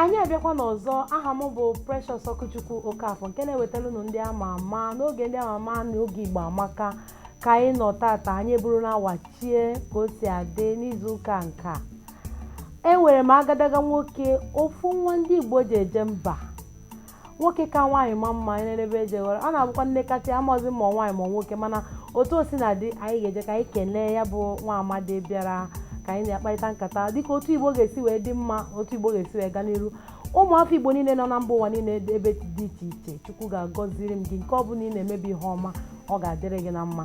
anyị abịakwana ọzọ aha m bụ Precious Okwuchukwu Okafọ nke na-ewetara unu ndị ama ama n'oge ndị ama ama na oge Igbo amaka ka anyị nọ tata anyị eburu na wachie ka o si adị n'izu ụka nke a enwere m agadaga nwoke ofu nwa ndị Igbo ji eje mba nwoke ka nwaanyị ma mma enenebe ejeghị ọrụ ọ na-abụkwa m nekata amazi ma nwaanyị ma nwoke mana otu o sina dị anyị ga-eje ka anyị kelee ya bụ nwa amadi bịara ka anyị na ya kparịta nkata dịka otu igbo ga-esi wee dị mma otu igbo ga-esi wee gaa n'iru ụmụafọ igbo niile nọ na mba ụwa niile ebe dị iche iche chukwu ga-agọziri m gị nke ọ bụla ị na-eme bụ ihe ọma ọ ga-adịrị gị na mma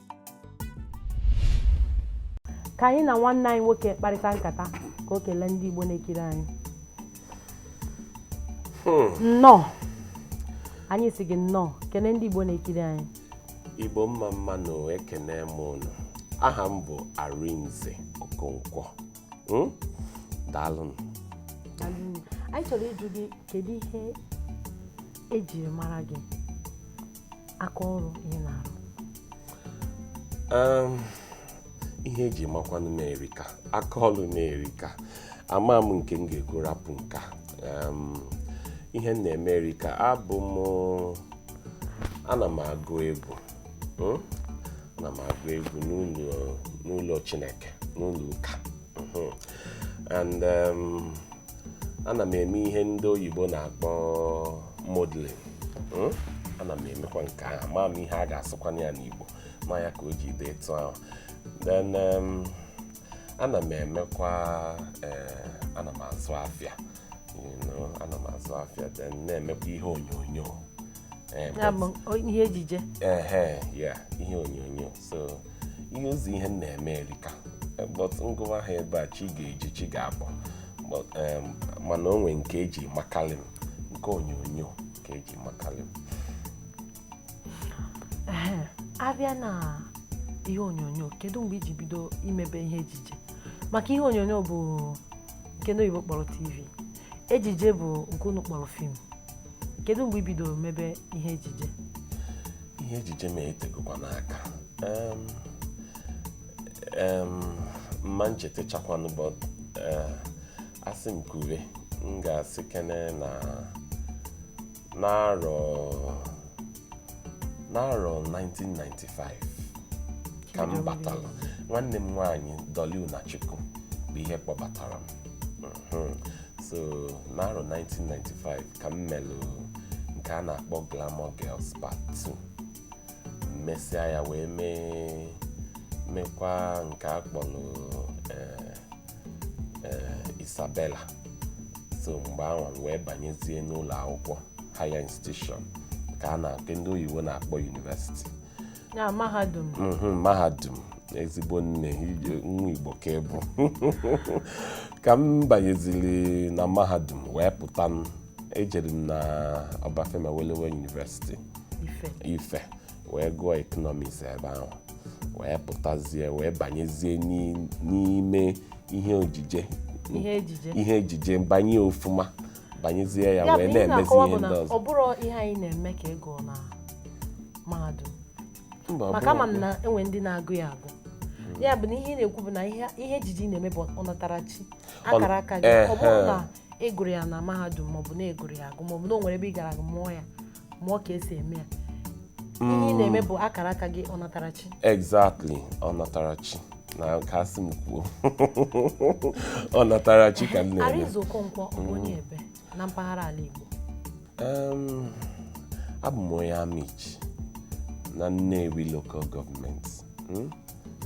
ka anyị na nwanne anyị nwoke kparịta nkata ka o kelee ndị Igbo na-ekiri anyị hmm. nnọọ anyị si gị nnọọ kelee ndị Igbo na-ekiri anyị Igbo mma mma nụ ekene m ụnụ aha m bụ Arinze Okonkwo hmm? daalụnụ anyị chọrọ ịjụ gị kedu ihe ejiri mara gị aka ọrụ ị na-arụ ihe eji makwanụ m erika aka ọrụ m erika ama m nke m ga-ekwu rapụ nke a ihe m na-eme erika abụ m ana m agụ egwu hmm? ana m agụ egwu n'ụlọ Chineke n'ụlọ ụka hmm. and ana m eme ihe ndị oyibo na-akpọ modeling hmm? ana m emekwa nke ahụ ama m ihe a ga-asụkwana ya n'Igbo ma ya ka o ji dị etu ahụ then um, ana m emekwa eh, ana m azụ afịa ana m azụ afịa then na-emekwa ihe onyonyo eh, ihe ejije eh, ihe onyonyo so ihe ọzọ ihe m na-eme erika but m gụwa ha ebe a chi ga-eji chi ga-abọ But, em, mana o nwee nke eji makali m nke onyonyo ka eji makali m a bịa na ihe onyonyo kedu mgbe i ji bido imebe ihe ejije maka ihe onyonyo bụ nke ndị oyibo kpọrọ tv ejije bụ nke unu kpọrọ film kedu mgbe i bidoro mebe ihe ejije ihe ejije m etegokwanụ aka Em, em, m ma nchetachakwanụ but a sị m kwube m ga-asị kene na n'arọ n'arọ 1995 ka m batara nwanne m nwaanyị Dolly Unachukwu bụ ihe kpọbatara m Mhm. so n'arọ 1995 ka m melụ nke a na-akpọ Glamour Girls Part 2 mesịa ya wee mee mekwa nke a kpọrọ eh, eh, Isabella so mgbe ahụ m wee banyezie n'ụlọ akwụkwọ higher institution ka a na- nke ndị oyibo na-akpọ university na mahadum Mhm, mahadum ezigbo nne ije- nwa Igbo ka ị bụ ka m banyeziri na mahadum wee pụta m ejere m na Obafemi Awolowo University Ife wee gụọ economics ebe ahụ wee pụtazie wee banyezie n'ime ihe ojije ihe ejije banye ofụma banyezie ya wee na-emezi ihe ndị ọzọ ọ bụrọ ihe anyị na-eme ka ị gụọ na mahadum maka ama m na enwe ndị na-agụ ya agụ ya bụ na ihe ị na-ekwu bụ na ihe ejije ị na-eme bụ ọnatarachi akara aka gị ọ bụrọ na ị gụrụ ya na mahadum maọbụ na ị gụrụ ya agụ maọbụ na o nwere ebe ị gara ga mụọ ya mụọ ka esi eme ya ihe ị na-eme bụ akara aka gị ọnatarachi exactly ọnatarachi na nke asị m kwuo ọnatarachi ka m na-eme Arinze Okonkwo ọ bụ onye ebee na mpaghara ala Igbo Em, abụ m onye Amichi na Nnewi local government Mm,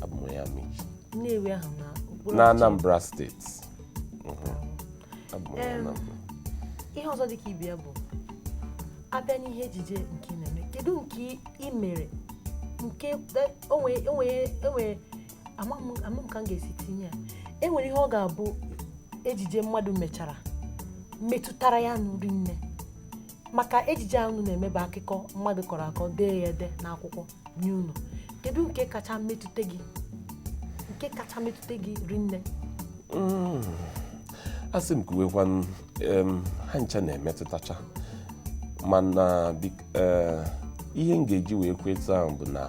abụ m onye Amichi Nnewi ahụ na okpuru na Anambra steeti ihe ọzọ dị ka ibe ya bụ a bịa n'ihe ejije nke ị na-eme kedu nke ị mere nke enwere ama m ka m ga-esi tinye ya enwere ihe ọ ga-abụ ejije mmadụ mechara metụtara ya nnọọ rinne maka ejije ahụ na-eme bụ akụkọ mmadụ kọrọ akọ dee ya ede n'akwụkwọ nye unu kedu nke kacha metụta gị nke kacha metụta gị rinne mm. asị m kwuwekwa ha ncha na-emetụtacha mana e, ihe m ga-eji wee kwuo etu a bụ na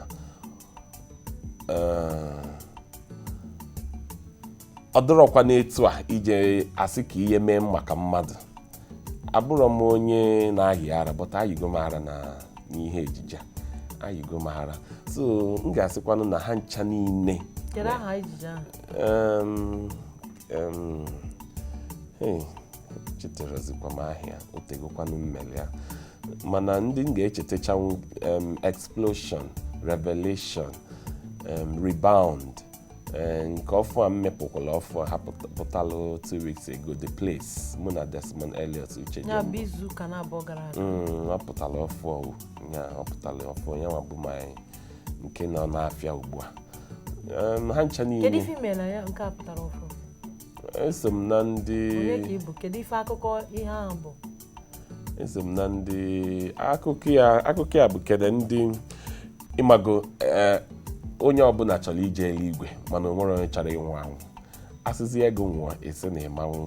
e, ọ dịrọkwa n'etu a ije asị ka ihe mee m maka mmadụ abụrọ m onye na-ayị ara but ayịgo m ara na n'ihe ejije a ayịgo m ara so m ga-asịkwanụ na ha ncha niile Kedu aha ejije ahụ? Em, em, hey, echetarọzikwa m aha ya o tegokwanụ m mere ya mana ndị m ga-echetachanwu em, explosion revelation em, rebound Eh, nke ọfụ a m mepụkwala ọfụ a pụtalụ two weeks ago The Place mụ na Desmond Elliot Uche ya bụ izu ụka na abụọ gara aga mm, ọ pụtara ọfụ ọwụ ya ọ pụtara ọfụ ya nwa bụ my nke nọ n'afịa ugbu a Em, ha ncha kedu niile ife i mela ya nke a pụtara ọfụ eso m na ndị onye ka ị bụ kedu ife akụkọ ihe ahụ bụ eso m na ndị akụkọ ya akụkọ ya bụ kede ndị ịmago eh, onye ọbụla chọrọ ije eluigwe mana o nwerọ onye chọrọ ịnwụ anwụ a sịzie gị nwụọ ị sị na ị ma-anwụ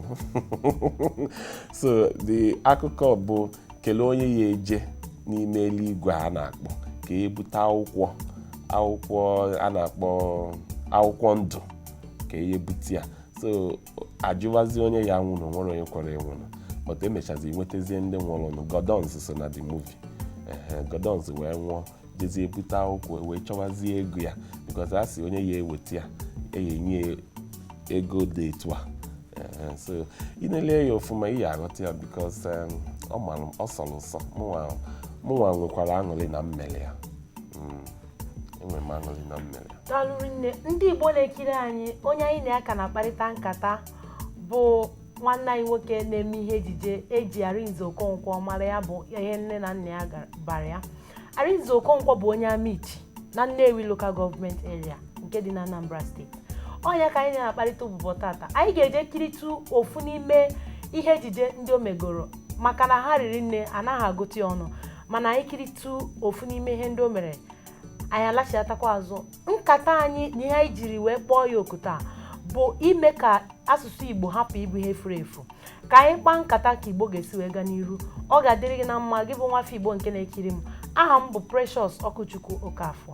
so the akụkọ bụ kelee onye ya-eje n'ime eluigwe a na-akpọ ka e bute akwụkwọ akwụkwọ a na-akpọ akwụkwọ ndụ ka e bute ya so a jụwazi onye ya-anwụnụ o nwerọ onye kwere anwụnụ but e mechazi nwetazie ndị nwụrụnụ Gordons so na the movie Gordons wee nwụọ jezie ebute akwụkwọ e wee chọwazie ego ya because a sị onye ya-eweta ya e ya-enye ego dị etu a so ị na-ele ya ọfụma ị ya-aghọta ya because um, ọ mara ọ sọrọ ụsọ mụnwa nwekwara aṅụrị na m mele ya enwere m aṅụrị na m mere ya daalụ rinne ndị igbo na-ekiri anyị onye anyị na ya ka na-akparịta nkata bụ nwanne anyị nwoke na-eme ihe ejije e ji arinze okonkwo mara ya bụ ihe nne na nna ya gara- bara ya arinze okonkwo bụ onye amichi na nnewi local government area nke dị na anambra steeti ọ nya ka anyị na-akparịta ụbụbọ tata anyị ga-eje kiritụ ofu n'ime ihe ejije ndị o megoro maka na ha riri nne a naghị agụta ya ọnụ mana anyị kiritụ ofu n'ime ihe ndị o mere anyị alachiatakwa azụ nkata anyị na ihe anyị jiri wee kpọọ ya oku taa bụ ime ka asụsụ igbo hapụ ịbụ ihe furu efu ka anyị kpaa nkata ka igbo ga-esi wee gaa n'iru ọ ga-adịrị gị na mma gị bụ nwafọ igbo nke na-ekiri m aha m bụ precious ọkụchukwu okafọ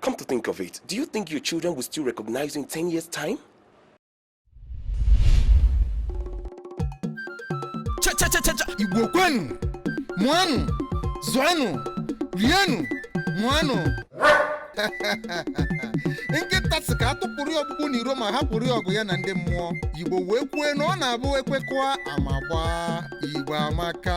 Come to think of it, do you think your children will still recognize you in 10 years' time? Cha cha cha cha cha! Igbo kwenu! Mụanụ! Zụanụ! Rienụ! Ṅụanụ! nkịta sị ka a tụpụrụ ya ọkpụkpụ n'iro ma hapụrụ ya ọgụ ya na ndị mmụọ igbo wee kwue na ọ na-abụ e kwekọa ama gbaa igbo amaka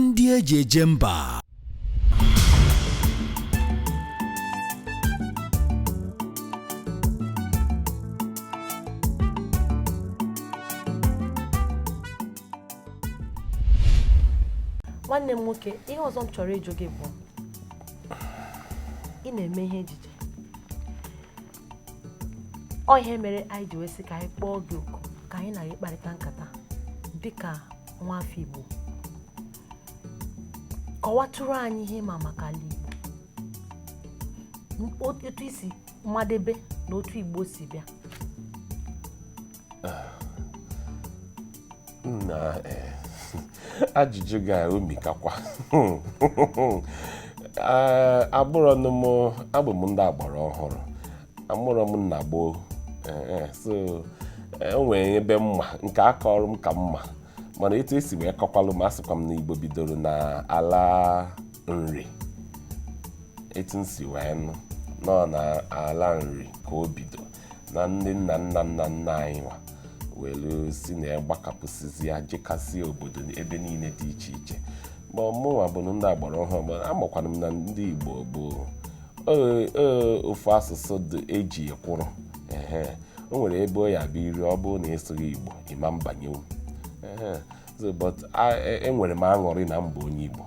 ndị e ji eje mba nwanne m nwoke ihe ọzọ m chọrọ ịjụ gị bụ ị na-eme ihe ejije ọ ihe mere anyị ji wee sị ka anyị kpọọ gị oku ka anyị na gị kparịta nkata dịka nwa afọ Igbo kọwatụrụ anyị ihe ị ma maka ala Igbo otu i si madebe na otu Igbo si bịa na eh, ajụjụ gị a omikakwa eh, abụrụ m abụ m ndị agbara ọhụrụ amụrọ m na gboo eh, so o nwere ebe m ma nke a kọọrụ m ka m ma mana etu e si wee kọkwalụ m a sịkwa m na igbo bidoro na ala nri etu m si wee nụ na ọ na ala nri ka o bido na ndị nna nna nna nna anyị nwa were si na ya gbakapụsịzịa jekasị obodo ebe niile dị iche iche ma mụnwa bụnụ ndị agbara ọhụrụ ma amakwanụ m na ndị Igbo bụ ee, ee, ofu asụsụ dị e ji ekwuru ehe o nwere ebe ọ ya-abụ i ruo ọ bụrụ na ị sụghị Igbo ị ma mbanye ehe so but a- e- enwere m aṅụrị na m bụ onye igbo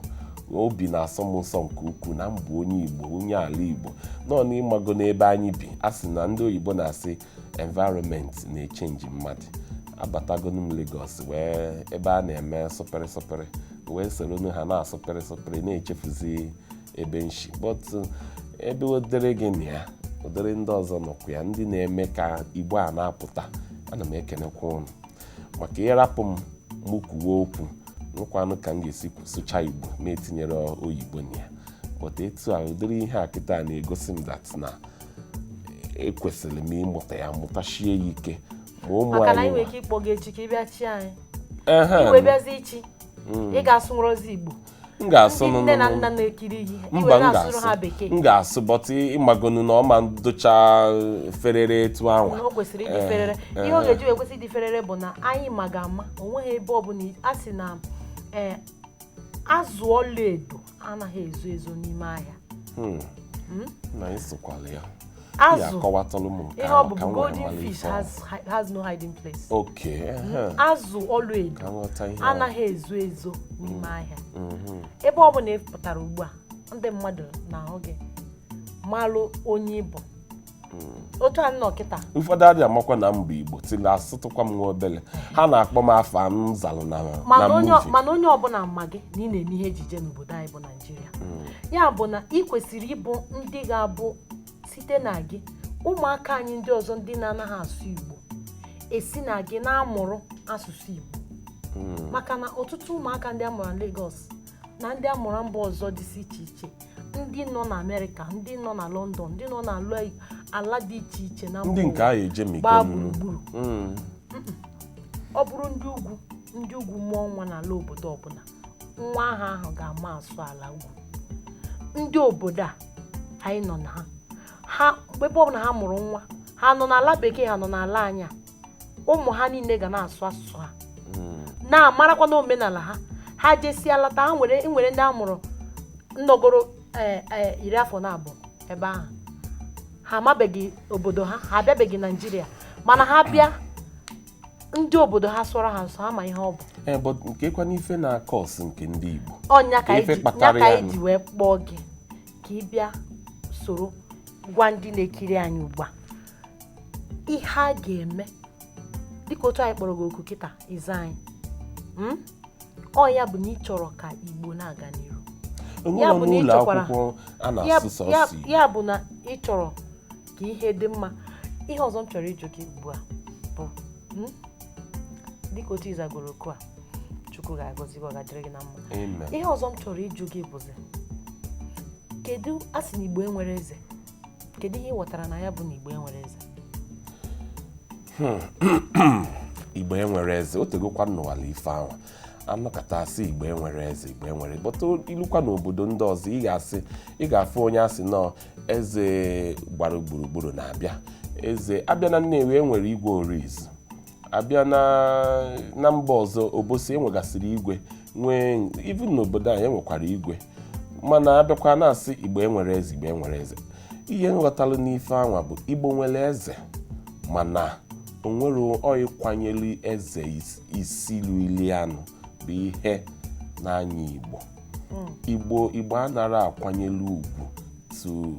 obi na-asọ m ụsọ nke ukwuu na m bụ onye igbo onye ala igbo na ọ na ịmago n'ebe anyị bi a sị na ndị oyibo na-asị environment na-echenji mmadụ abatagonu m Lagos wee ebe a na-eme sụpịrị sụpịrị wee soronu ha na-asụpịrị sụpịrị na-echefuzi ebe m si but uh, ebe ụdịrị gị nọ ya ụdịrị ndị ọzọ nọkwa ya ndị na-eme ka igbo a na-apụta ana m ekenekwa unu maka ị rapụ m mụ kwuwe okwu na ọkwanụ ka m ga-esi sụcha igbo na-etinyere oyibo na ya but etu a ụdịrị ihe a kịta na-egosi m that na ekwesịrị m ịmụta ya mụtashie ya ike ma ụmụ maka na anyị nwere anyị ike ịkpọ gị echi ka ị bịa chị anyị Ehe. i wee bịazi ịchị ị ga-asụ nrọzi igbo m ga-asụ ndị nne na nna nụnụ na-ekiri ihe mba i wee m na-asụrụ ha ga-asụ bekee m ga-asụ but ịmagonu na ọ ma dịcha ferere etu anwa na o kwesịrị ịdị Eh, ferere eh. ihe ọ ga-eji wee kwesị ịdị ferere bụ na anyị ma gị ama o nweghị ebe ọbụla a sị na ee azụ ọlaedo anaghị ezo ezo n'ime ahịa Hmm. na ịsụkwala ya azụ ihe ọ bụ golden fish has, has no hiding place okay mm-hmm. azụ ọlaedo anaghị ezo ezo n'ime mm-hmm. ahịa mm-hmm. ebe ọ bụla ị pụtara ugbu a ndị mmadụ na-ahụ gị malụ onye ị bụ otu a nọ kịta ụfọdụ adị amakwa na m bụ igbo till asụtụkwa m nwa obele ha na-akpọ m afa m zalụ na mana onye ọbụla ma gị na ị na-eme ihe ejije n'obodo anyị bụ Naịjirịa mm. ya bụ na ị kwesịrị ịbụ ndị ga-abụ site na gị ụmụaka anyị ndị ọzọ ndị na-anaghị asụ Igbo esi na gị na-amụrụ asụsụ Igbo mm. maka na ọtụtụ ụmụaka ndị a mụrụ na Lagos na ndị a mụrụ mba ọzọ dịsị iche iche ndị nọ na Amerịka ndị nọ na London ndị nọ na ala dị iche iche na ndị nke ahụ ejemi gbaa gburugburu mm. ọ bụrụ ndị ugwu ndị ugwu mụọ nwa n'ala obodo ọbụla nwa ahụ ahụ ga-ama asụ ala ugwu ndị obodo a anyị nọ na ha ha mgbe ebe ọbụla ha mụrụ nwa ha nọ n'ala bekee ha nọ n'ala anyị a ụmụ ha niile ga na-asụ asụsụ ha na-amarakwa na omenala ha ha jesịa lata ha nwere nwere ndị a mụrụ nọgoro eh, eh, iri afọ na abụọ ebe ahụ ha amabeghị obodo ha ha abịabeghị naijiria mana ha bịa ndị obodo ha sụọrọ ha nsọ ha ama ihe ọ bụ ee but kee kwanụ ife na-cause nke ndị Igbo ọ nya ka Ife anyị ji- kpatara nya ka ya anyị nụ. ji wee kpọọ gị ka ị bịa soro gwa ndị na-ekiri anyị ugbu a ihe a ga-eme dịka otu anyị kpọrọ gị oku kịta ị za anyị Mm? ọ ya bụ na ị chọrọ ka Igbo na-aga n'iru enwere bụ na ị n'ụlọ chọkwara- akwụkwọ a ya na-asụ ya- sọsọ Igbo ya bụ na ị chọrọ ka ihe dị mma ihe ọzọ m chọrọ ịjụ gị ugbu a bụ hmm? dịka otu ị zagoro oku a chukwu ga-agọzi gị ọ ga-adịrị gị na mma Amen. ihe ọzọ m chọrọ ịjụ gị bụzi kedu a sị na igbo enwere eze kedu ihe ị ghọtara na ya bụ na igbo enwere eze igbo enwere eze o tegokwa m nụwalụ ife anwa a nọkata a sị igbo enwere eze igbo enwere but i lukwa n'obodo ndị ọzọ ị ga-asị ị ga-afụ onye a sị na ọ eze gbara gburugburu na-abịa eze a bịa na Nnewi e nwere Igwe Orizu a bịa na mba ọzọ Obosi e nwegasịrị igwe nwee even n'obodo anyị e nwekwara igwe mana a bịakwa na-asị igbo enwere eze igbo enwere eze ihe m ghọtalụ n'ife anwa bụ igbo nwere eze mana o nwere ọ ịkwanyere eze isi lilianụ bụ ihe na-anyị igbo igbo igbo anara akwanyelu ugwu tu-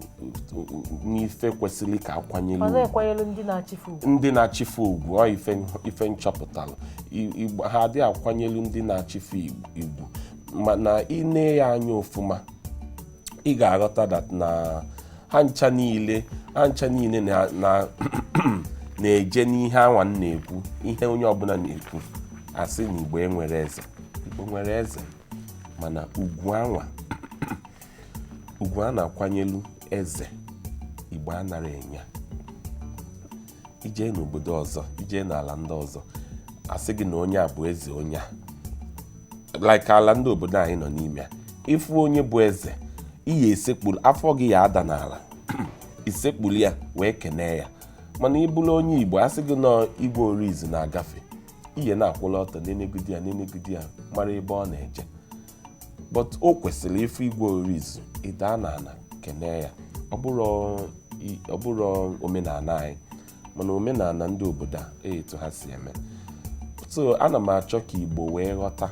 tu- n'ife kwesịrị ka a kwanyelu ọ ugwu na-ekwanyere ndị na-achị ife ugwu ndị na-achị ife ugwu ọ ife ife m chọpụtara I- igbo ha adịghị akwanyelu ndị na-achị ife ig- ugwu mana i nee ya anya ofụma ị ga-aghọta that na ha ncha niile ha ncha niile na- na- na-eje n'ihe anwa m na-ekwu ihe onye ọbụla na-ekwu a sị na igbo enwere eze igbo nwere eze mana ugwu anwa ugwu a na-akwanyelu eze igbo anara enye ya i je n'obodo ọzọ i je n'ala ndị ọzọ a sị gị na onye a bụ eze onye a like ala ndị obodo anyị nọ n'ime ya ị fụ onye bụ eze i ya-esekpuru afọ gị ya ada n'ala i sekpuru ya wee kenee ya mana ị bụrụ onye igbo a sị gị na Igwe Orizu na-agafe ihe na-akwụla ọtọ nenegodi ya nenegodi ya mara ebe ọ na-eje but o kwesịrị ịfụ igwe orizu ịda na ana kenee ya ọ bụrụ i- ọ bụrụ omenala anyị mana omenala ndị obodo a e etu ha si eme so ana m achọ ka igbo wee ghọta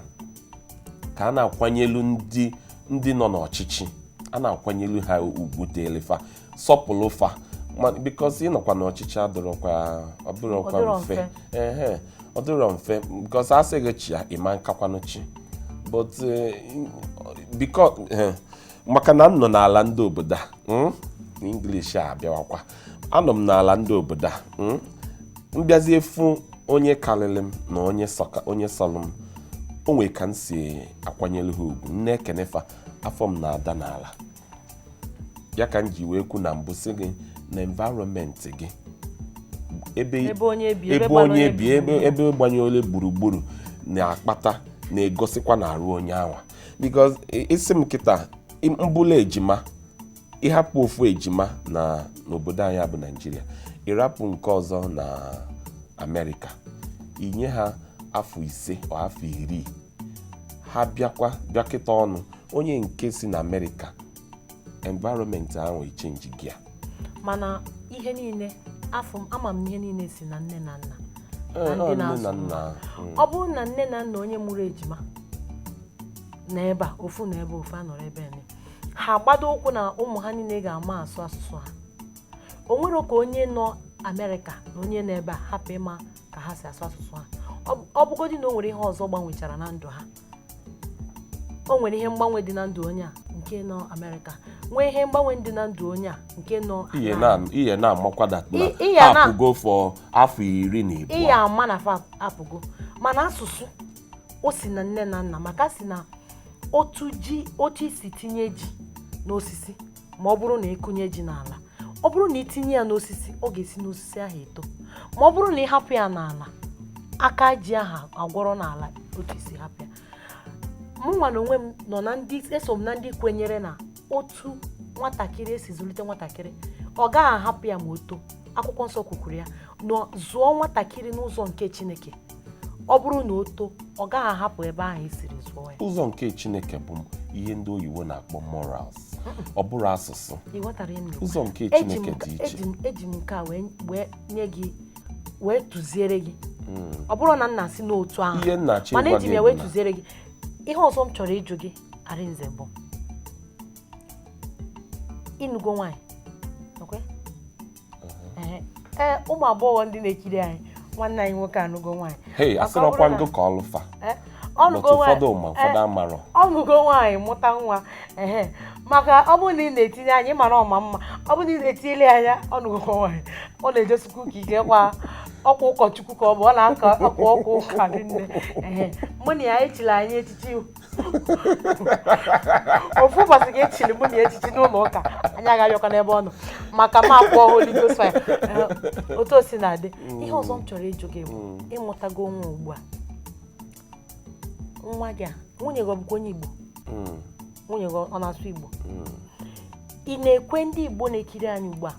ka a na-akwanyelu ndị ndị nọ n'ọchịchị a na-akwanyelu ha ugwu dịrị fa sọpụrụ fa ma because ịnọkwa na ọchịchị adịrọkwa ọ bụrọkwa Ọ dịrọ mfe mfe. ehe ọ dịrọ mfe because a sị gị chịa ị ma nkakwanụ chị but because maka na m nọ n'ala ndị obodo a mm, na English a abịawakwa anọ m n'ala ndị obodo a mm, m bịazie fụ onye karịrị m na onye sọka onye sọrọ m o nwere ka m si akwanyere ha ugwu m na-ekene fa afọ m na-ada n'ala ya ka m ji wee kwu na mbụ sị gị na environment gị ebe ebe onye bi ebe onye bi ebe ebe gbanyere gburugburu na-akpata na-egosikwa na arụ onye anwa because i- ị sị m kịta i- mbụla ejima ị hapụ ofu ejima na n'obodo anyị a bụ naịjirịa ị rapụ nke ọzọ na amerịka i nye ha afọ ise or afọ iri ha bịakwa bịakọta ọnụ onye nke si na amerịka environment ahụ echenjigo ya mana ihe niile afọ m ama m ihe niile si na nne na nna Ee, na ọ ndị nne na na-azụ nna mm. ọ bụrụ na nne na nna onye mụrụ ejima na ebe a ofu na ebe ofu anọrọ ebe nne ha gbado ụkwụ na ụmụ ha niile ga-ama asụ asụsụ ha o nwere ka onye nọ amerịka na onye nọ ebe a hapụ ịma ka ha si asụ asụsụ ha ọ bụgodị na o nwere ihe ọzọ gbanwechara na ndụ ha o nwere ihe mgbanwe dị na ndụ onye a nke nọ Amerịka nwee ihe mgbanwe dị na ndụ onye a nke nọ ihe na-amakwa that na apụgo for afọ iri na ịbụa ị ya ama na fa apụgo mana asụsụ o si na nne na nna maka a sị na otu ji otu i si tinye ji n'osisi ma ọ bụrụ na ị kụnye ji n'ala ọ bụrụ na i tinye ya n'osisi ọ ga-esi n'osisi ahụ eto ma ọ bụrụ na ị hapụ ya n'ala aka ji ahụ agwọrọ n'ala otu i si hapụ ya mụnwa na onwe m nọ na ndị eso m na ndị kwenyere na otu nwatakịrị e si zụlite nwatakịrị ọ gaghị ahapụ ya ma o too akwụkwọ nsọ kwukwuru ya na zụọ nwatakịrị n'ụzọ nke chineke ọ bụrụ na o too ọ gaghị ahapụ ebe ahụ i siri zụọ ya ụzọ nke chineke bụ ihe ndị oyibo na-akpọ morals ọ bụrọ asụsụ ị ghọtara ihe m na-ekwu? ụzọ nke Eji m chineke nke- dị iche eji m- eji m nke a wee wee nye gị wee tụziere gị ọ bụrọ na m na-asị n'otu ahụ ihe m na-achọ mana ịgwa eji m gị ya bụ wee na tụziere gị ihe ọzọ m chọrọ ịjụ gị arinze bụ ị nụgo nwaanyị nakwe ee ụmụ agbọghọ ndị na-ekiri anyị nwanne anyị nwoke anụgo nwaanyị hei Maka asịrị ọ ọkwa bụrụ na- ngụ ka ọlụfa Eh, but ọ nụgo ụfọdụ nwaanyị ma ụfọdụ amarọ ọ nụgo nwaanyị mụta nwa ehe maka ọ bụrụ na ị na-etinye anya ị mara ọ ma mma ọ bụrụ na ị na-etinyele ya anya ọ nụgo nwaanyị ọ na-ejesikwu ụka ike kwa ọkwa ụkọchukwu ka ọ bụ ọ na-aka ọkwa ọkwa ụka dị nne ehe mụ na ya echila anyị echichi ofu ụbọchị ka echiri mụ na ya echichi n'ụlọ ụka anyị agaghịkwa n'ebe ọ nọ maka m akwụọ Holy Ghost fire eh, otu o si na-adị mm. ihe ọzọ m chọrọ ịjụ gị bụ mm. ị mụtago nwa ugbu a nwa gị a nwunye gị ọ bụkwa onye Igbo mm. nwunye gị ọ na-asụ Igbo ị na-ekwe ndị Igbo na-ekiri anyị ugbu a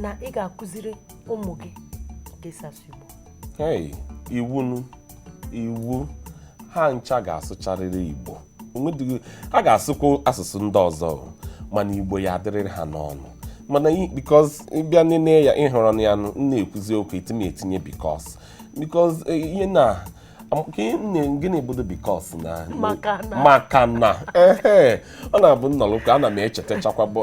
na ị ga-akụziri ụmụ gị ka esi asụ Igbo iwu iwu ha ncha ga-asụcharịrị igbo ha ga-asụkwa asụsụ ndị ọzọ mana igbo ya-adịrịrị ha n'ọnụ mana because ị bịa nene ya ị hụrụ na ya na-ekwuzi okwu etinye etinye because because e, ihe na gịnị bụdo because na maka na ọ na-abụ m nọrọkwa ana m echetachakwa bụ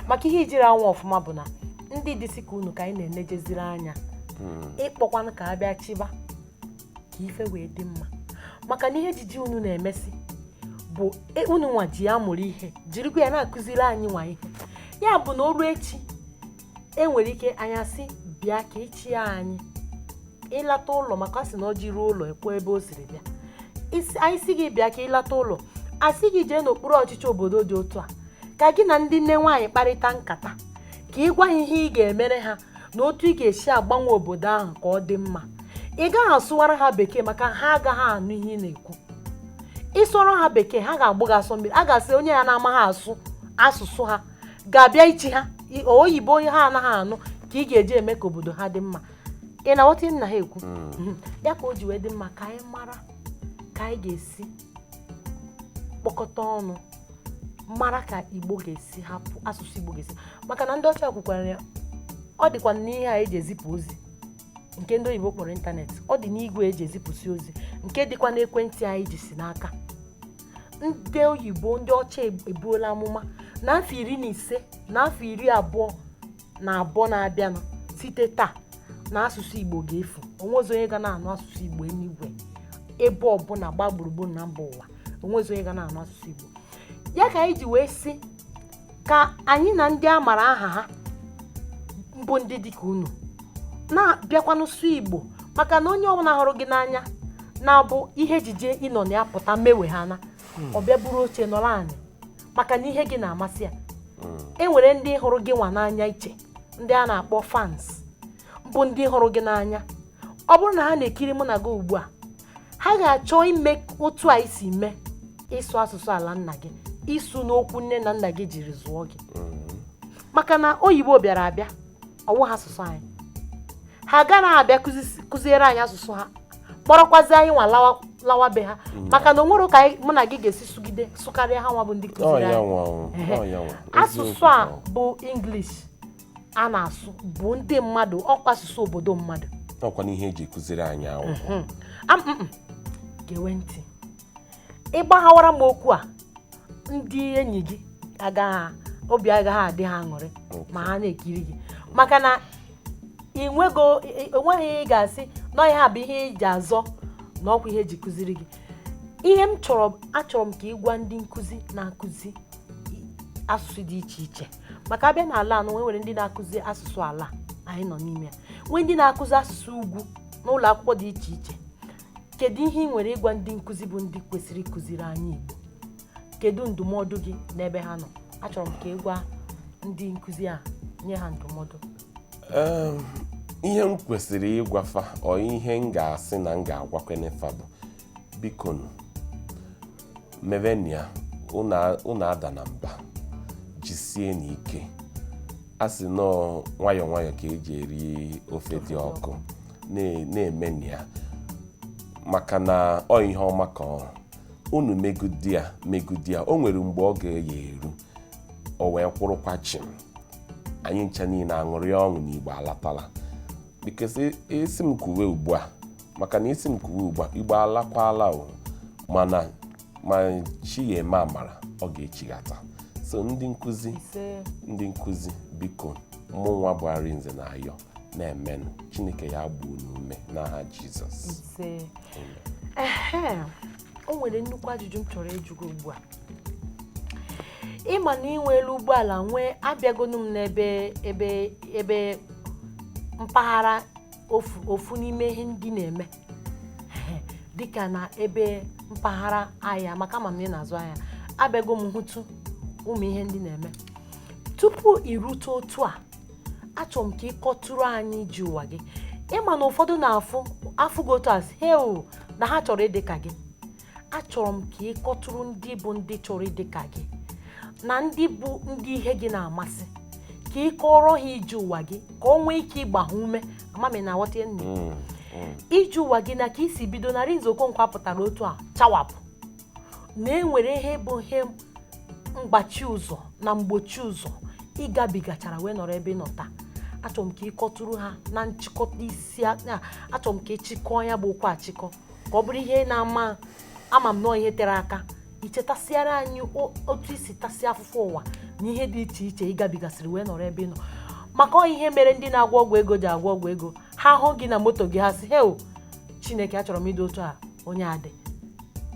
maka ihe i jiri anwa ọfụma bụ na ndị dịsị ka unu ka anyị na-enejeziri anya hmm. ịkpọkwanụ ka a bịa chịba ka ife wee dị mma maka na ihe ejije unu na-emesi bụ e, unu nwa ji ya mụrụ ihe jirikwa ya na-akụziri anyị nwa ihe ya bụ na o ruo echi enwere ike anyị sị bịa ka ị chịa anyị ị lata ụlọ maka a sị na ọjị ruo ụlọ o kwuo ebe o siri bịa anyị sị gị bịa ka ị lata ụlọ a sị gị jee n'okpuru ọchịchị obodo dị otu a ka gị na ndị nne nwaanyị kparịta nkata ka ị gwa ha ihe ị ga-emere ha na otu ị ga-esi agbanwe obodo ahụ ka ọ dị mma ị gaghị asụwara ha bekee maka ha agaghị anụ ihe ị na-ekwu ị sụọrọ ha bekee ha ga-agbụ gị asọ mmiri a ga-asị onye a na-amaghị asụ asụsụ ha ga-abịa ịchị ha oyibo ha anaghị anụ ka ị ga-eji eme ka obodo ha dị mma ị na-aghọta ihe m na-ekwu hmm. ya ka o ji wee dị mma ka anyị mara ka anyị ga-esi kpọkọta ọnụ mara ka igbo ga-esi hapụ asụsụ igbo ga-esi maka na ndị ọcha kwukwara ya ọ dịkwa n'ihe a eji ezipụ ozi nke ndị oyibo kpọrọ ịntanetị ọ dị n'igwe eji ezipụsị ozi nke dịkwa n'ekwentị anyị jisi n'aka ndị oyibo ndị ọcha ebuola amụma na afọ iri na ise na afọ iri abụọ na abụọ na-abịanụ site taa na asụsụ igbo ga-efu onwezi onye ga na-anụ asụsụ igbo n'igwe ebe ọbụla gbaa gburugburu na mba ụwa onwezi onye ga na-anụ asụsụ igbo ya ka anyị ji wee sị ka anyị na ndị a mara aha ha m bụ ndị dịka unu na-abịakwanụ sụ igbo maka na onye ọbụla hụrụ gị n'anya na-abụ ihe ejije ị nọ na ya pụta mewe ha na ọ bịa buru oche nọrọ anị maka na ihe gị na-amasị ya e nwere ndị hụrụ gị nwa n'anya iche ndị a na-akpọ fans bụ ndị hụrụ gị n'anya ọ bụrụ na ha na-ekiri mụ na gị ugbu a ha ga-achọ ime otu anyị si mee ịsụ asụsụ ala nna gị ịsụ n'okwu nne na nna gị jiri zụọ gị maka na oyibo bịara abịa ọ wụ ha asụsụ anyị ha agaraghị abịa kụziere anyị asụsụ ha kpọrọkwazi anyị nwa lawa lawa be ha maka na o nwere ka anyị- mụ na gị ga-esi sụgide sụkarịa ha nwa bụ ndị Ọ kụziri ya anyị nwa o, Ehe. ọ ya nwa. asụsụ Eziokwu a ahụ. bụ English a na-asụ bụ ndị mmadụ ọkwa asụsụ obodo mmadụ Ọkwa n'ihe eji kụziri anyị akwụkwọ. Am- mm, mm. gewe ntị ị gbaghawara m okwu a ndị enyi gị agaghị obi agaghị adị ha aṅụrị ma ha na-ekiri gị maka na ị nwego ị- enweghị ihe ị ga-asị na ihe a bụ ihe ị ji azọ na ọkwa ihe eji kụziri gị ihe m chọrọ achọrọ m ka ị gwa ndị nkụzi na-akụzi asụsụ dị iche iche maka a bịa n'ala a nọ nwe nwere ndị na-akụzi asụsụ ala anyị nọ n'ime ya nwee ndị na-akụzi asụsụ ugwu n'ụlọ akwụkwọ dị iche iche kedu ihe ị nwere ịgwa ndị nkụzi bụ ndị kwesịrị ịkụziri anyị Igbo kedu ndụmọdụ gị n'ebe ha nọ achọrọ m ka ị gwa ndị nkụzi a nye ha ndụmọdụ ihe m kwesịrị ịgwa fa ọ ihe m ga-asị na m ga-agwakwene fa bụ biko mevenụ ya unu adana mba jisienụ ike a sị na ọ nwayọọ nwayọọ ka eji eri ofe dị ọkụ na-emenụ ya maka na ọ ihe ọma ka ọ bụ unu megide ya megide ya o nwere mgbe ọ ga-eji eru o wee kwụrụkwa chim anyị ncha niile aṅụrịa ọṅụ na Igbo alatala because ị sị m kwuwe ugbu a maka na ị sị m kwuwe ugbu a Igbo alakwala o mana m ma Chi ya-eme amara ọ ga-echighata so ndị nkụzi ise ndị nkụzi biko mụnwa bụ Arinze na-ayọ na-emenụ Chineke ya-agba unu ume n'aha Jizọs ise ehe o nwere nnukwu ajụjụ m chọrọ ịjụ gị ugbu a ị ma na i nwelu ụgbọala nwee abịagonu m n'ebe ebe ebe mpaghara ofu ofu n'ime ihe ndị ị na-eme dịka na ebe mpaghara ahịa maka ama m na ị na-azụ ahịa abịago m hụtụ ụmụ ihe ndị ị na-eme tupu i rute otu a achọrọ m ka ị kọtụrụ anyị ije ụwa gị ị ma na ụfọdụ na-afụ afụ gị otu a sị he o na ha chọrọ ịdị ka gị achọrọ m ka ị kọtụrụ ndị bụ ndị chọrọ ịdị ka gị na ndị bụ ndị ihe gị na-amasị ka ị kọọrọ ha ije ụwa gị ka o nwee ike ịgba ha ume ama m ị na-aghọta nne ije ụwa gị na ka i si bido na Arinze Okonkwo a pụtara otu a chawapụ na e nwere ihe bụ ihe mgbachi ụzọ na mgbochi ụzọ ị gabigachara wee nọrọ ebe ị nọ taa achọrọ m ka ị kọtụrụ ha na nchịkọta isi a- na- achọrọ m ka ị chịkọọ ya bụ okwu achịkọ ka ọ bụrụ ihe ị na-ama ama m na ọ ihe tere aka i chetasịara anyị o- otu i si tasịa afụfụ ụwa na ihe dị iche iche ị gabigasịrị wee nọrọ ebe ị nọ maka ọ ihe mere ndị na-agwọ ọgwụ ego ji agwọ ọgwụ ego ha hụ gị na moto gị ha sị heo chineke achọrọ m ịdị otu a onye a dị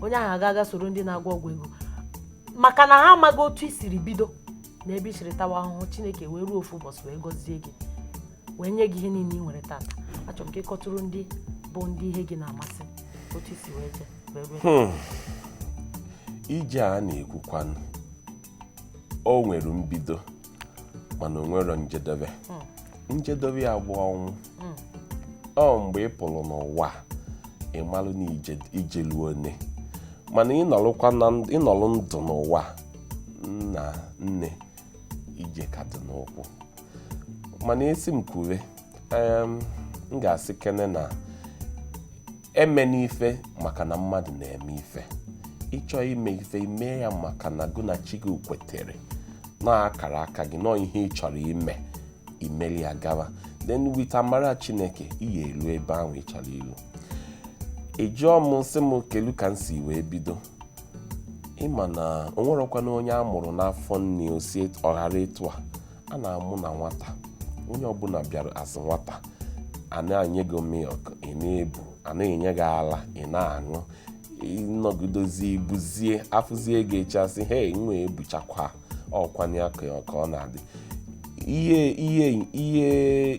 onye ahụ agaa ga soro ndị na-agwọ ọgwụ ego maka na ha amaghị otu i siri bido na ebe i siri tawa ahụhụ chineke wee ruo ofu ụbọchị wee gọzie gị wee nye gị ihe niile ị nwere tata achọrọ m ka ị kọtụrụ ndị bụ ndị ihe gị na-amasị otu i si wee jee hmm. ije a na-ekwukwanụ o nwere mbido mana o nwerọ njedebe njedebe ya bụ ọnwụ ọ mgbe ị pụrụ n'ụwa a, ị malụ na ije i jelu one mana ị nọrụkwa na nd- ị nọrọ ndụ n'ụwa nna nne ije ka dị n'ụkwụ mana a sị m kwuwe em, m ga-asị kene na emena ife maka na mmadụ na-eme ife ị chọọ ime ife i mee ya maka na gụ na chi gị kwetere na akara aka gị na ọ ihe ị chọrọ ime i meli ya gawa then with amara chineke ị ya-elu ebe ahụ ị chọrọ ilu ị jụọ m sị m kelu ka m si wee bido ị ma na o nwerọkwanụ onye a mụrụ n'afọ nne o si ọ hara etu a a na-amụ na nwata onye ọbụla bịara as nwata a na-enye gị milk ị na-ebu a na-enye gị ala ị na-aṅụ ị nọgidozi i buzie a fụzie gị echi a sị he nwa a ebuchakwaa ọ kwa nya ka ọ na-adị ihe ihe ihe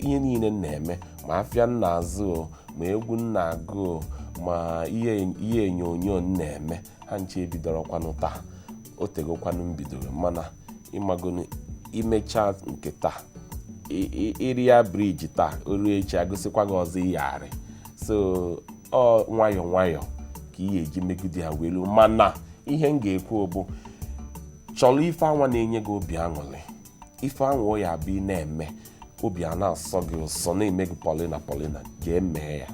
ihe niile m na-eme ma afịa m na-azụ ma egwu m na-agụ ma ihe ihe onyonyo m na-eme ha ncha ebidorọkwanụ taa o tegokwanụ m bidoro mana ị magonu i mechaa nke taa ị- ị- ị rịa briji taa o ruo echi a gosikwa gị ọzọ ị ya-arị so ọ nwayọọ nwayọọ ka ị ga-eji megide ya welu mana ihe m ga-ekwu bụ chọrọ ife anwa na-enye gị obi aṅụrị ife anwa ya-abụ ị na-eme obi a na-asọ gị ụsọ na-eme gị polina polina jee mee ya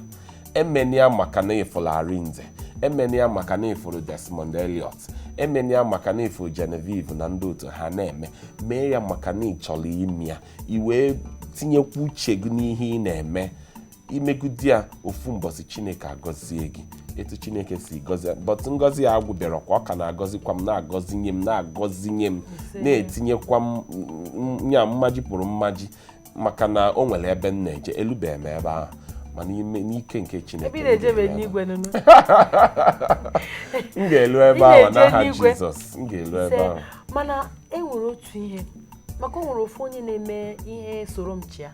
emena ya maka na ị fụrụ arinze emena ya maka na ị fụrụ desmond elliot emena ya maka na ị fụrụ genevieve na ndị otu ha na-eme mee ya maka na ị chọrọ ime ya i wee tinyekwa uche gị n'ihe ị na-eme ị megide ya ofu mbọsị chineke agọzie gị etu chineke si gọzie but ngọzi ya agwụbịarọkwa ọ ka na-agọzikwa m na-agọzinye m na-agọzinye m na-etinyekwa m m- m- ya mmaji pụrụ mmaji maka na o nwere ebe m na-eje elubeghị m ebe ahụ mana n'ike nke chineke m ga-elu ebe ahụ n'aha jizọs m ga-elu ebe ahụ mana e nwere otu ihe maka o nwere ofu onye na-eme ihe soro m chịa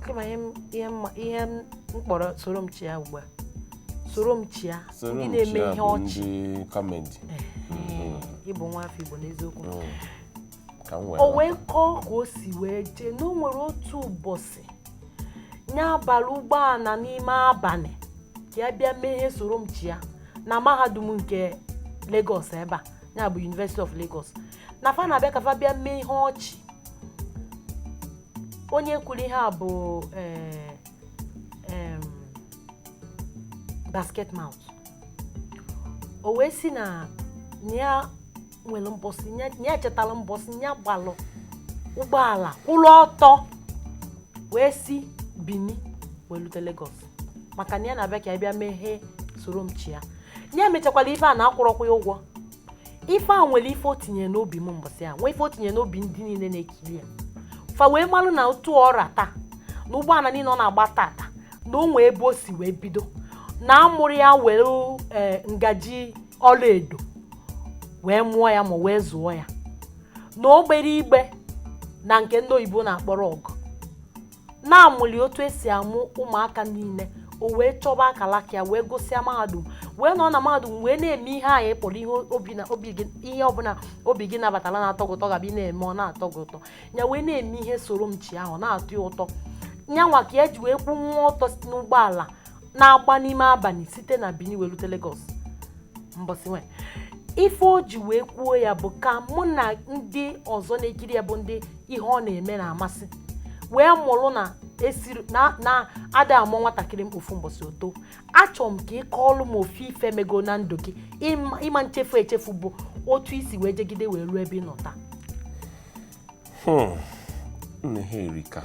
kama ihe m- ihe mma- ihe m kpọrọ soro m chịa ugbu a soro m chịa ndị na-eme ihe ọchị kọmedi Ee, ị bụ nwa afọ igbo n'eziokwu o wee kọọ ka o si wee jee na o nwere otu ụbọchị ya bara ụgbọala n'ime abalị ka ya bịa mee ihe soro m chịa na mahadum nke Lagos ebe a ya bụ University of Lagos na fa na-abịa ka fa bịa mee ihe ọchị onye kwuru ihe a bụ eh, em, Basketmouth o wee si na na ya nwere mbọsị ya na ya chetara mbọsị ya gbalụ ụgbọala kwụrụ ọtọ wee si Bini wee lute Lagos maka na ya na-abịa ka ya bịa mee ihe soro m chịa ya mechakwara ife a na akwụrọkwa ya ụgwọ ife a nwere ife o tinye n'obi m mbọsị a nwee ife o tinye n'obi ndị niile na-ekiri ya fa wee malụ na otu ọ ra taa na ụgbọala niile ọ na-agba tata na o nwee ebe o si wee bido na amụrọ ya were eh, ngaji ọlaedo wee mụọ ya ma wee zụọ ya na o gbere igbe na nke ndị oyibo na-akpọrọ ọgụ na a mụlụ ya otu e si amụ ụmụaka niile o wee chọba akalaka ya wee gụsịa mahadum wee nọ na mahadum wee na-eme ihe anyị kpọrọ ihe ọbụla obi gị nabatara na-atọ gị ụtọ gaba ị na-eme ọ na-atọ gị ụtọ ya wee na-eme ihe soro m chịa ahụ na-atọ ya ụtọ nyanwa ka ya ji wee kwụ nwa ọtọ si n'ụgbọala na-agba n'ime abalị site na Bini wee rute Lagos mbọsị nwe ife o ji wee kwuo ya bụ ka mụ na ndị ọzọ na-ekiri ya bụ ndị ihe ọ na-eme na-amasị wee mụrụ na esiri na na ada amụ nwatakịrị n'ofu mbọsị o too achọrọ m ka ị kọọlụ m ofu ife mego na ndụ gị ị ma nchefu echefu bụ otu i si wee jegide wee ruo ebe ị nọ taa Hmm. nne ha erika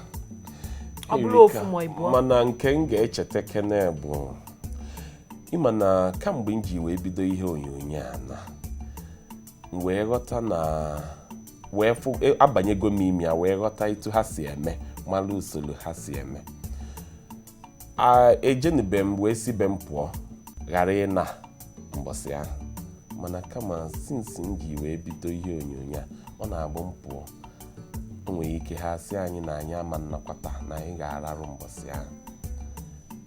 ọ bụrọ ofu ma ịbụọ mana nke m ga-echeta kene bụ ị ma na kamgbe m ji wee bido ihe onyonyo a na wee ghọta na wee fụ e, abanyego m ime ya wee ghọta etu ha si eme mara usoro ha si eme a ejenube m wee si be m pụọ ghara ịna mbọsị ahụ mana kama since m ji wee bido ihe onyonyo a ọ na-abụ m pụọ o nwere ike ha sị anyị na anyị ama nnakwata na anyị ga-ararụ mbọsị ahụ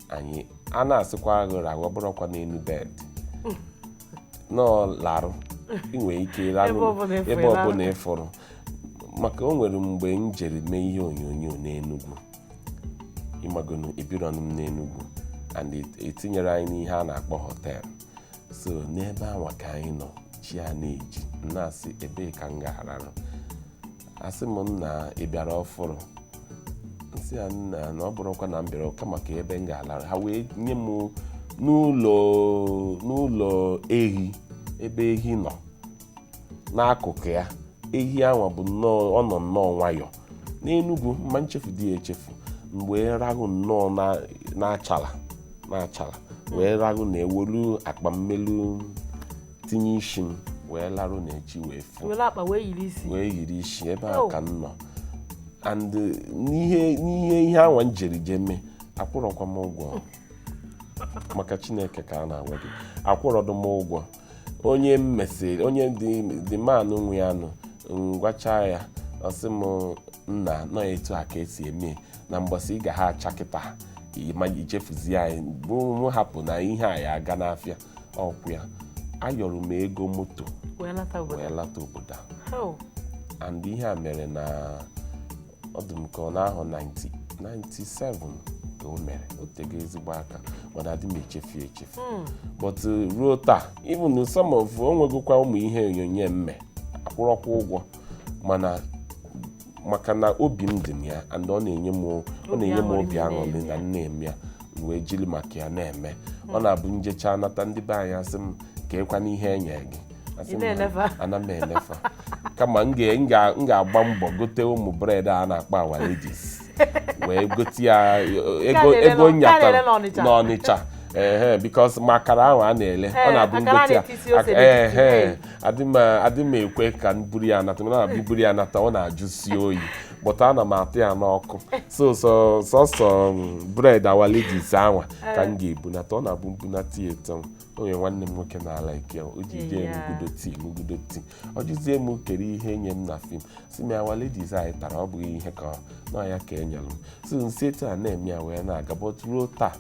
anyị a na-asịkwa ghụ rahụ ọ bụrọkwa n'elu bed nọọ larụ ị nwere ike Ebe rarụ ọbụla ịfụrụ ebe larụ. ọbụla ịfụrụ maka o nwere mgbe m jere mee ihe onyonyo n'Enugu ịmagonu ebirọnụ m n'enugwu and et- etinyere anyị n'ihe a na-akpọ hotel so n'ebe anwa ka anyị nọ chi a na-eji m na-asị ebee ka m ga-ararụ a sị m nna ị bịara ọfụrụ m sị ya nna na ọ bụrọkwa na m bịara kama ka ebe m ga-alarụ ha wee nye m n'ụlọ n'ụlọ ehi ebe ehi nọ n'akụkụ ya ehi anwa bụ nnọọ ọ nọ nnọọ nwayọọ n'enugwu m ma nchefudị ya echefu m wee rahụ nnọọ na- n'achala wee rahụ na ewelu akpa m welu tinye isi m wee larụ na echi wee fo were akpa wee yiri isi wee yiri isi ebe a Oh. ka m nọ and uh, n'ihe n'ihe ihe anwa m jere je mee akwụrọkwa m ụgwọ maka chineke ka a na-agwa gị akwụrọdụ m ụgwọ onye m mesịrị onye the man nwe ya nụ m gwacha ya ọ sị m nna na ọ etu a ka esi eme na mgbọsị ị ga ha acha kịta ma ichefuzie anyị bụ m hapụ na ihe a ya aga n'afịa ọkwụ ya ayọrọ m ego moto wee lata obodo a How? and ihe a mere na ọ dị m ka ọ n'ahọ 97 ka o mere o tego ezigbo aka mana adị m echefu ya echefu but uh, ruo taa even some of o nwegokwa ụmụ ihe onyonyo m mee akwụrọkwa ụgwọ mana maka na obi m dị na ya and ọ na-enye m ọ na-enye m obi aṅụrị na m na-eme ya m wee jiri maka ya na-eme ọ na-abụ m jecha nata ndị be anyị asị m kekwanụ ihe e nyere gị Asị m, na-ele fa. ana m ele fa kama m ga- m ga- m ga-agba mbọ gote ụmụ bread a na-akpọ Our Ladies wee gote ya eh, ego na-ele ego n'Ọ- nke a na-ele nyatara n'Ọnịcha. n'ọnịcha ehe because ma akara ahụ a na-ele ọ Ee, na-abụ akara a m gote ya na-etisi ose Ak- n'etiti, ehe ee. adị m adị m ekwe ka m buru ya nata mana na-abụ m buru ya nata ọ na-ajụsi oyi but ana m ata ya n'ọkụ so so sọsọ mm, bread Our Ladies anwa ka m ga-ebunata ọ na-abụ m bunata ya eto o nwere nwanne m nwoke na-ala ike o ji jee Yeah. ṅụgudo tea ṅụgudo tea ọ jụzie m kere ihe e nye m na film sị m ya Our Ladies anyị tara ọ bụghị ihe ka na ọ ya ka e nyere m so m si etu a na-eme ya wee na-aga but ruo taa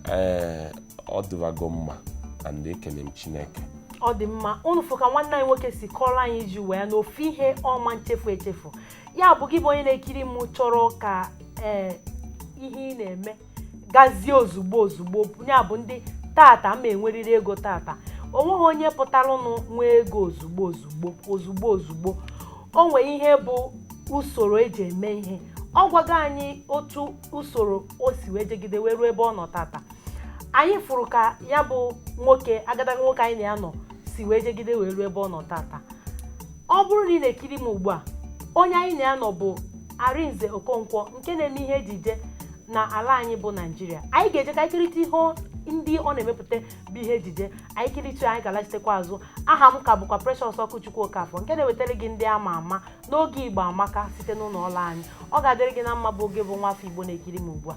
ee ọ dịwago mma and ekele m chineke ọ dị mma unu fụ ka nwanne anyị nwoke si kọrọ anyị ji wee na ofu ihe ọ ma nchefu echefu ya bụ gị bụ onye na-ekiri m chọrọ ka ee ihe ị na-eme gazie ozugbo ozugbo ya bụ ndị tata ma enwerịrị ego tata o nweghị onye pụtaranụ nwee ego ozugbo ozugbo ozugbo ozugbo o nwere ihe bụ usoro eji eme ihe ọ gwago anyị otu usoro o si wee jegide wee ruo ebe ọ nọ tata anyị fụrụ ka ya bụ nwoke agadaga nwoke anyị na ya nọ si wee jegide wee ruo ebe ọ nọ tata ọ bụrụ na ị na-ekiri m ugbu a onye anyị na ya nọ bụ Arinze Okonkwo nke na-eme ihe ejije na ala anyị bụ Naijiria anyị ga-eje ka anyị kiritụ ihe ndị ọ na-emepụta bụ ihe ejije anyị kiritụ anyị ga-alachitekwa azụ aha m ka bụkwa Precious Okwuchukwu Okafọ nke na-ewetara gị ndị ama ama n'oge Igbo Amaka site n'ụlọ ọrụ anyị ọ ga-adịrị gị na mma bụ oge bụ nwa afọ Igbo na-ekiri m ugbu a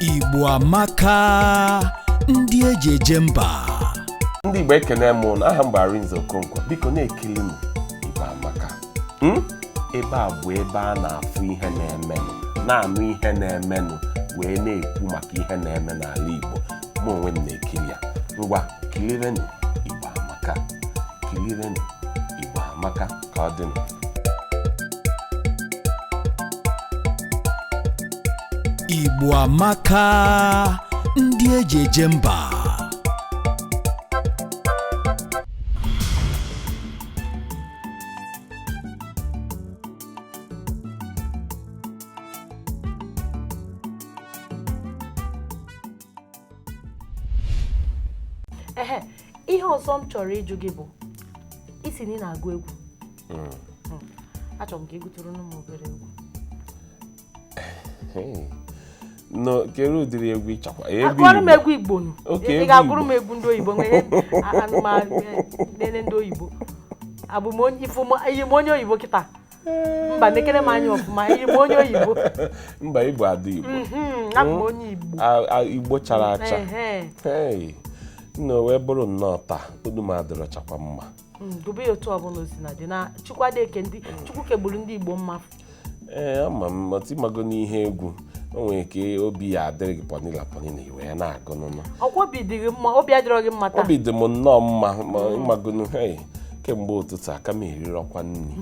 Igbo amaka ndị eji eje mba ndị Igbo ekene m ụnụ aha m bụ Arinze Okonkwo biko na-ekilinụ Igbo amaka hmm? ebe a bụ ebe a na-afụ ihe na-emenụ na-anụ ihe na-emenụ wee na-ekwu maka ihe na-eme n'ala Igbo mụ onwe m na-ekiri ya ngwa kilirenụ igbo amaka kilirenụ igbo amaka ka ọ dịnụ igbo amaka ndị eji eje mba ehe ihe ọzọ m chọrọ ịjụ gị bụ ị sị na ị na-agụ egwu hmm. Hmm. achọrọ m ka ị gụtụrụ m obere egwu kedụ ụdịrị egwu ị chọkwa gụọrọ m egwu igbo nụ ị ga-agụrụ m egwu ndị oyibo nwanne ndị oyibo abụ m onye oyibo kịta mba nekere m anya ọfụma ị bụ onye oyibo mba ị bụ ada igbo mhm, abụ m onye igbo igbo chara acha nna o wee bụrụ nnọọ taa olu m adịrọchakwa mma mm, dobe ya otu ọbụla o sina dị na chukwuadeke ndị chukwu kegburu ndị igbo mma ee ama m but ị mago na ihe egwu o nwere ka obi ya-adịrị gị pọnila pọnila i wee na-agụnụ ọkwa obi dị gị mma obi adịrọ gị mma taa obi dị m nnọọ mma ma ị magonụ hei kemgbe ụtụtụ aka m erirọkwa nri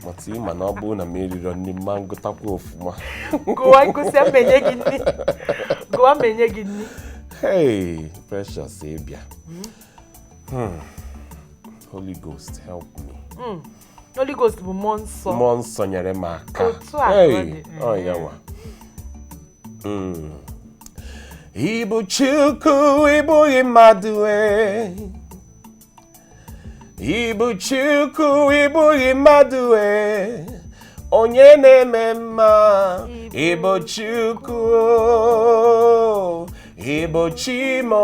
but ị ma na ọ bụrụ na m erirọ nri m ma-agụtakwa ọfụma gụwa ị gụsịa m enye gị nri gụwa m enye gị nri hei precious ị bịa Hmm. holy ghost help me Mm. Holy Ghost bụ mmụọ nsọ mmụọ nsọ nyere m aka Otu a ka ọ Hey, dị. ọ ya nwa Mm. ị bụ chukwu ị bụghị mmadụ e ị bụ chukwu ị bụghị mmadụ e onye na-eme mma ị bụ chukwu ị bụ chi m o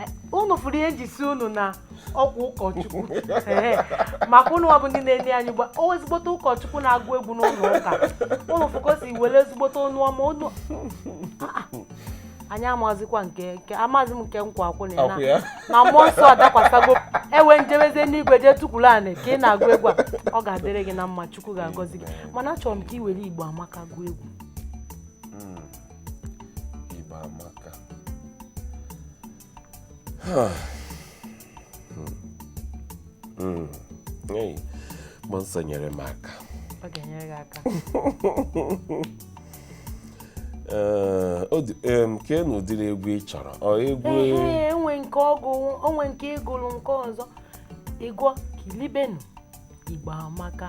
Eh, unu fụrụ ihe m ji sị unu na ọkwa ụkọchukwu Ee, maka unu ọ bụ ndị na-enye anyị gba o ezigbote ụkọchukwu na-agụ egwu n'ụlọ ụka unu fụrụ ka o si were ezigbote ọnụ ọma unu Ah, ah. anyị amazikwa nke nke amazi m nke m kwụ akwụ na ya na- Akwụ ya. na mmụọ nsọ adakwasago ewee m jebezie n'igwe jee tukwuru anị ka ị na-agụ egwu a ọ ga-adịrị gị na mma chukwu ga-agọzi gị mana achọrọ m ka ị were igbo amaka gụọ egwu Igbo amaka Hmm. Hmm. Hey, mmụọ nsọ nyere m aka ọ ga-enyere gị aka Ee, ọ dị- em, keenụ ụdịrị egwu ị chọrọ ọ egwu ee e nwe nke ọ gụ o nwe nke ị gụrụ nke ọzọ ị gụọ kilibenu igbo amaka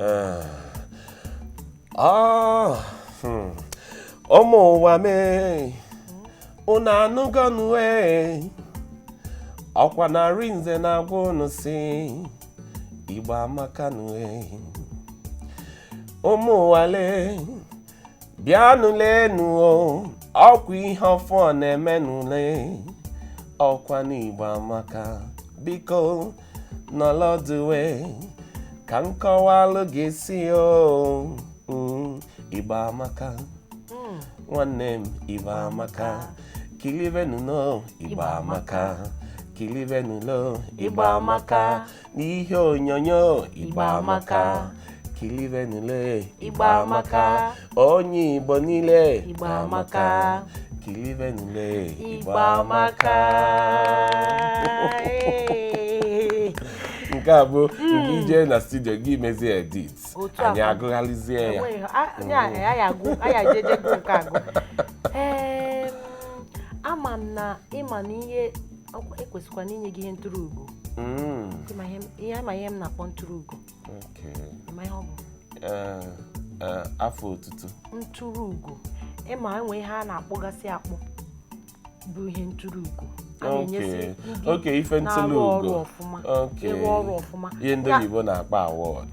Ee. Ah, hmm. ụmụ ụwa m ee unu anụgọnụ ee ọkwa na Arinze na-agwa unu sị igbo amakanụ ee ụmụ ụwa lee bịanụ leenụ ọkwa ihe ọfụụ na-emenụ le ọkwa n'igbo amaka biko nọlọ ọdụ ee ka m kọwalụ gị sị o mm, igbo amaka nwanne m igbo amaka kilibenu lo igbo amaka kilibenu lo igbo amaka n'ihe onyonyo Igbo amaka kilibenu le Igbo amaka onye Igbo niile Igbo amaka kilibenu le Igbo amaka nke a bụ hmm. mgbe i je na studio gị mezie edit anyị agụghalịzie ya hmm. ama m na ị ma na ihe Ọkwa e kwesịkwanụ inye gị ihe ntụrụ ugo Mm, Ị ma ihe m- ihe ama ihe m na-akpọ ntụrụ ugo okay. Ị ma ihe ọ bụ Eh, eh, afa otutu ntụrụ ugo ị ma e nwe ihe a na-akpọgasị akpọ bụ ihe ntụrụ ugo a na-enyesi Okay. ndị Okay, ife ntụrụ na-arụ ọrụ ugo. ọfụma Okay. ịrụ ọrụ ọfụma ihe ndị Ya- oyibo na-akpọ award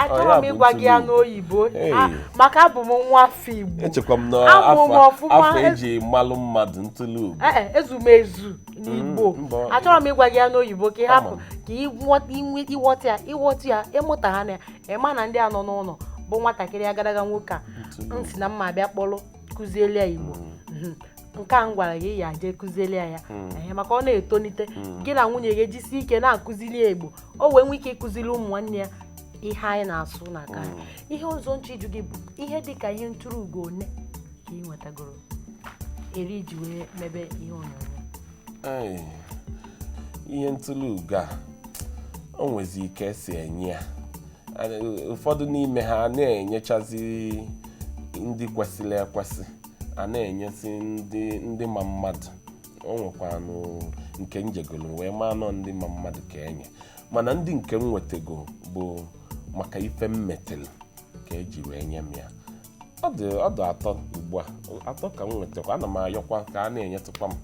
achọrọ m ịgwa gị ya n'oyibo ah, maka abụ m nwa afọ Igbo echekwa m n'afọ eji malụ mmadụ ntụlụ ugo eh, eh, ezumezu n'Igbo mm, achọrọ m ịgwa gị ya n'oyibo ka ị hapụ ka ị ghọta ya ị ghọta ya ị mụta ha na ya ị ma na ndị a nọ n'ụlọ bụ nwatakịrị agadaga nwoke a m sị na m ma-abịa kpọrọ kụziele ya Igbo mm. mhm. nke a m gwara gị ya jee kụziele ya ya hmm. maka ọ na-etonite hmm. gị na nwunye gị ejisi ike na-akụzili ya igbo o wee nwee ike ịkụzili ụmụ nwanne ya ihe anyị na-asụ na aka anyị. ihe ọzọ m chọ ịjụ gị bụ ihe dị ka ihe ntụrụ ugo one ka ị nwetagoro eri i ji wee mebe ihe onyonyo Ai, ihe ntụlụ ugo a o nwezi ka esi enye ya Ana- ụfọdụ n'ime ha a na-enyechazi ndị kwesịrị ekwesị a na-enyezi ndị ndị ma mmadụ o nwekwanụ nke m jegolu wee maa na ọ ndị ma mmadụ ka enye mana ndị nke m nwetago bụ maka ife m metelu ka eji wee nye m ya ọ dị ọ dị atọ ugbu a atọ ka m nwetakwa ana m ayọkwa ka a na-enyetụkwa m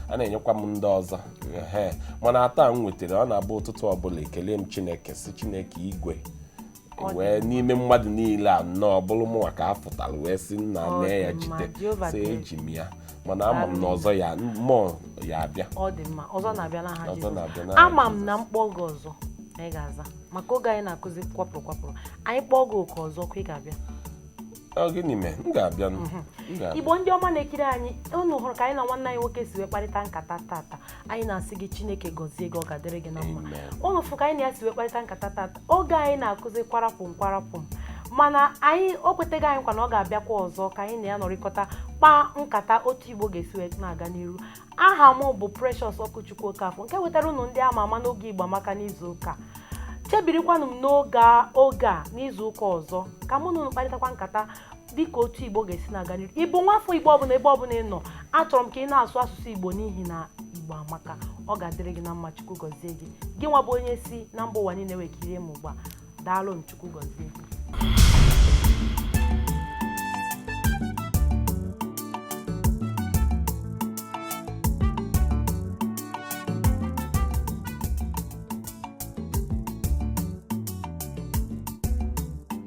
a na-enyekwa m ndị ọzọ ehe mana atọ a m nwetara ọ na-abụ ụtụtụ ọbụla ekele m chineke sị chineke igwe wee n'ime mmadụ niile a nọ ọ bụrụ mụnwa ka a fọtara wee sị nna Ọ mee ya dị mma, jide Jehova sị kere. eji m ya mana ama m na ọzọ ya mmụọ ya abịa ọ dị mma ọzọ na-abịa n'aha Ọzọ Jizọs. na-abịa n'aha ama m na m kpọọ gị ọzọ na ị ga-aza maka oge anyị na-akụzi kwapụrụ kwapụrụ anyị kpọọ gị oku ọzọ kwa ị ga-abịa Ọ gịnị mee m ga-abịa nụ. M ga-abịa. igbo ndị ọma na-ekiri anyị unu hụrụ ka anyị na nwanne anyị nwoke si wee kparịta nkata tata anyị na-asị gị chineke gọzie gị ọ ga-adịrị gị na mma ụnụ fụ ka anyị na ya si wee kparịta nkata tata oge anyị na-akụzi kwarapụm kwarapụm mana anyị o kwetago anyị nkwa na ọ ga-abịakwa ọzọ ka anyị na ya nọrịkọta kpaa nkata otu igbo ga-esi wee na-aga n'iru aha m bụ Precious Okwuchukwu Okafọ nke wetara ụnụ ndị ama ama n'oge Igbo Amaka n'izu ụka chebirikwanụ m n'oge a n'izu ụka ọzọ ka mụ na ụnụ kparịtakwa nkata dịka otu igbo ga-esi na-aga n'iru ị bụ nwafọ igbo ọbụla ebe ọbụla ị nọ achọrọ m ka ị na-asụ asụsụ igbo n'ihi na igbo amaka ọ ga-adịrị gị na mma chukwu gọzie gị gị nwa bụ onye si na mba ụwa niile wee kirie m ugbu a daalụ m chukwu gọzie gị